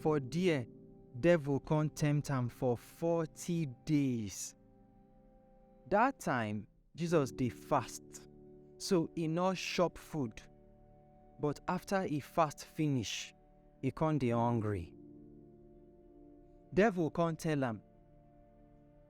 For there, devil come tempt am for forty days. That time, Jesus dey fast, so e no chop food. But after e fast finish, e come dey hungry. Devil come tell am,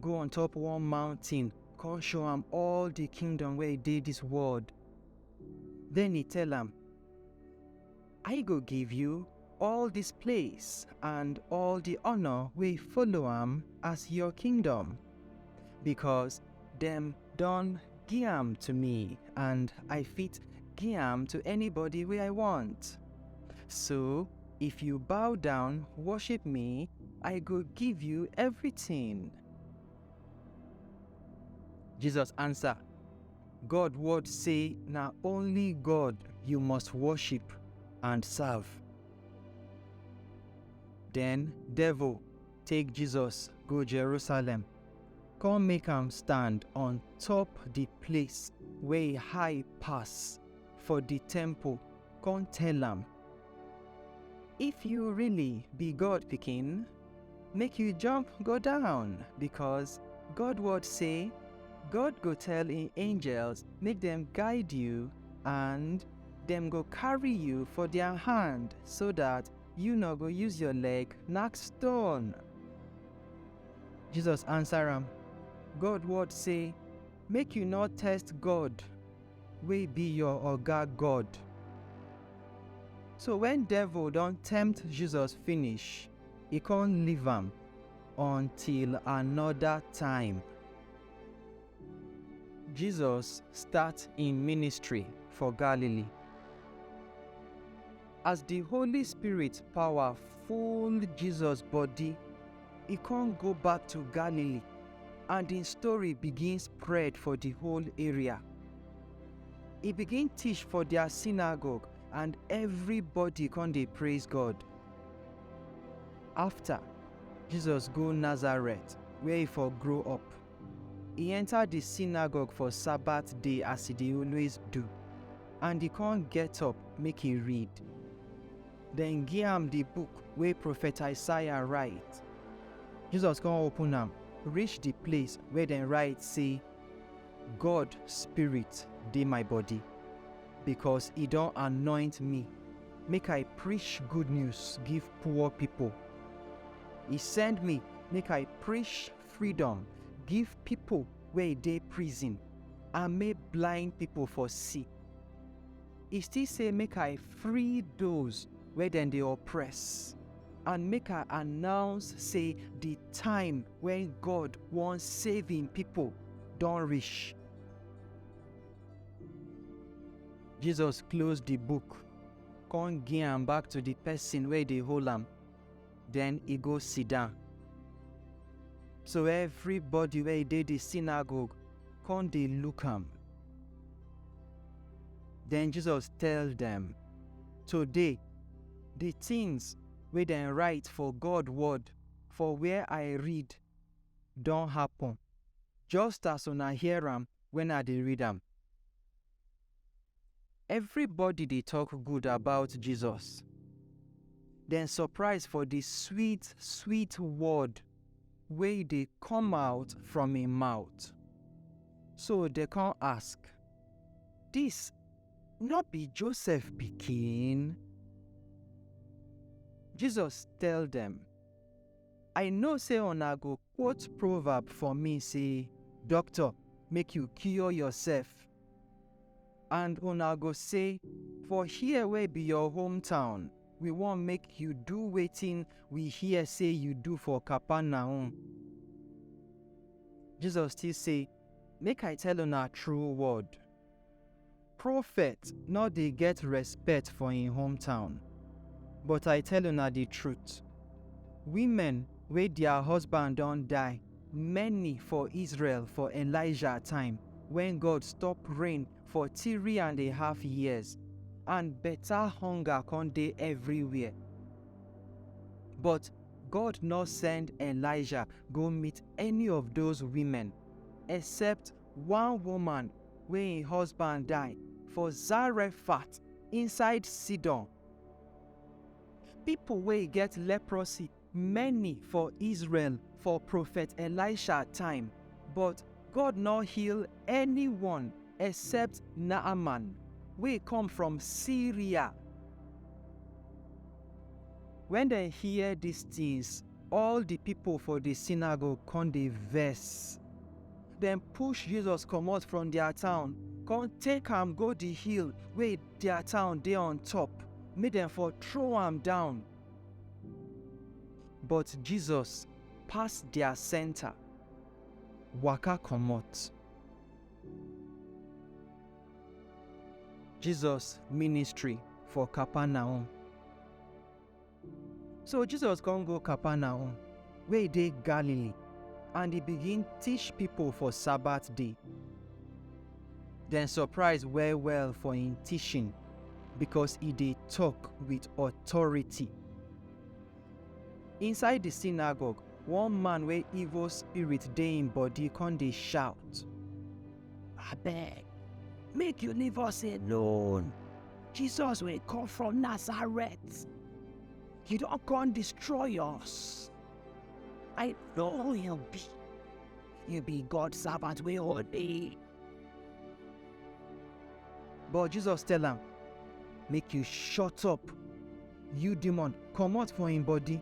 Go on top one mountain, come show am all the kingdom where e dey this world. Then he tell am, I go give you all this place and all the honor wey follow am as your kingdom, because dem Don gi am to me and I fit gi am to anybody wey I want. So, if you bow down worship me, I go give you everything. Jesus answer, God word say na only God you must worship and serve. Then devil take Jesus go Jerusalem. Come make am stand on top the place wey high pass for the temple, come tell am, If you really be God pikin, make you jump go down, because God word say, God go tell im angels make dem guide you and dem go carry you for their hand so that you no go use your leg knack stone. Jesus answer am, God word say, Make you no test God wey be your oga God. So wen devil don tempt Jesus finish, e con leave am until anoda time. Jesus start im ministry for Galilee. As di Holy Spirit pawa full Jesus bodi, e kon go back to Galilee and en story begin spread for di whole area. E begin tish for dia synagogue and evribodi kon dey praise God. Afta, Jesus go Nazareth where e for grow up. E enter di synagogue for Sabbath day as e dey always do, and e con get up make e read. Dem gi am di book wey profet Isaiah write. Jesus con open am reach di place where dem write sey, God Spirit dey my body, becos e don anoint me make I preach good news give poor pipo. E send me make I preach freedom give pipo wey dey prison and make blind pipo for see. E still say make I free those wey dem dey oppress and make I announce say di time wen God wan save im pipo don reach. Jesus close di book, con gi am back to di pesin wey dey hold am. den e go sidan. So evribodi wey dey di sinagogue kon dey look am. Den Jesus tell dem, Today, di tins wey dem write for God Word for where I read don happen, just as una hear am wen I dey read am. Everybody dey talk good about Jesus. Dem surprise for the sweet, sweet word wey dey come out from im mouth. So dem come ask, Dis no be Joseph pikin? Jesus tell dem, I know say una go Quote proverb for me say, Doctor, make you cure yourself. And una go say, For here wey be your hometown, we wan make you do wetin we hear say you do for Capernaum. Jesus still say, Make I tell una true word. Prophet no dey get respect for im hometown, but I tell una di truth, women wey dia husband don die many for Israel for Elijah time wen God stop rain for three and a half years and beta hunger con dey everywhere. But God no send Elijah go meet any of those women except One woman wey im husband die for Zarephath inside Sidon. Pipo wey get leprosy many for Israel for Profet Elisha time, but God nor heal anyone except Naaman wey come from Syria. Wen dem hear dis tins, all di pipo for di synagogue con dey vex. Dem push Jesus comot from dia town, kon take am go di hill wey dia town dey on top, make dem for throw am down. But Jesus pass dia senta, waka comot. Jesus ministry for Kapernaum. So Jesus come go Capernaum, wey dey Galilee, and e begin teach people for Sabbath day. Dem surprise well well for im teaching because e dey talk with authority. Inside the synagogue, one man wey evil spirit dey im body come dey shout, Abeg, make you leave us alone. Jesus will come from Nazareth. You don't come destroy us. I know he'll be. You be God's servant, we all be. But Jesus tell him, make you shut up. You demon, come out for him body.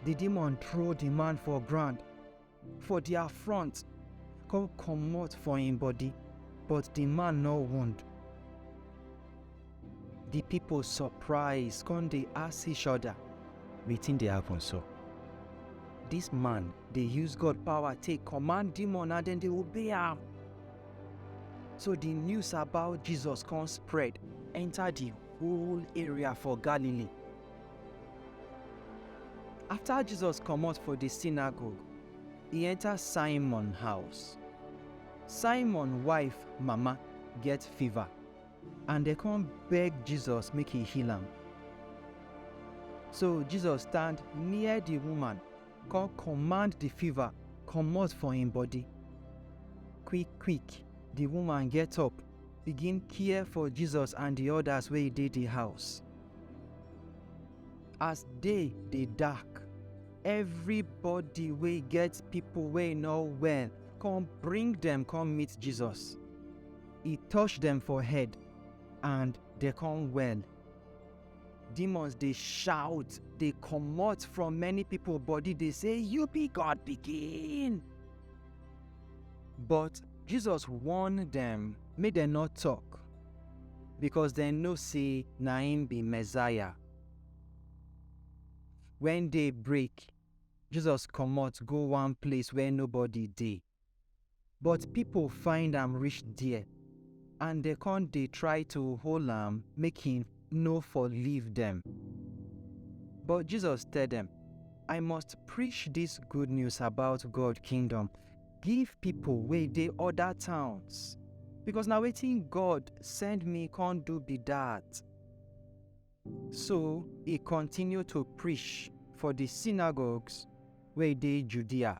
The demon throw the man for ground for dia front come comot for im body, but di man no wound. Di pipo surprise come dey ask each oda, Wetin dey happen so? Dis man dey use God power take command demon and dem dey obey am. So di news about Jesus come spread enta di whole area for Galilee. After Jesus comot for the synagogue, e enter Simon house. Simon wife mama get fever and dem come beg Jesus make he heal am. So Jesus stand near the woman come command the fever comot for im body. Quick quick, the woman get up begin care for Jesus and the others wey dey the house. As day dey dark, everybody wey get people wey no well come bring dem come meet Jesus. E touch dem for head and dem come well. Demons dey shout, dey comot from many people body dey say, You be God pikin! But Jesus warn dem make dem no talk because dem know say na him be Messiah. When day break, Jesus comot go one place where nobody dey. But pipo find am reach there, and dem con dey try to hold am make he no for leave dem. But Jesus tell dem, I must preach dis good news about God kingdom give pipo wey dey oda towns, becos na wetin God send me con do be dat. So he continue to preach for di synagogues wey dey Judea.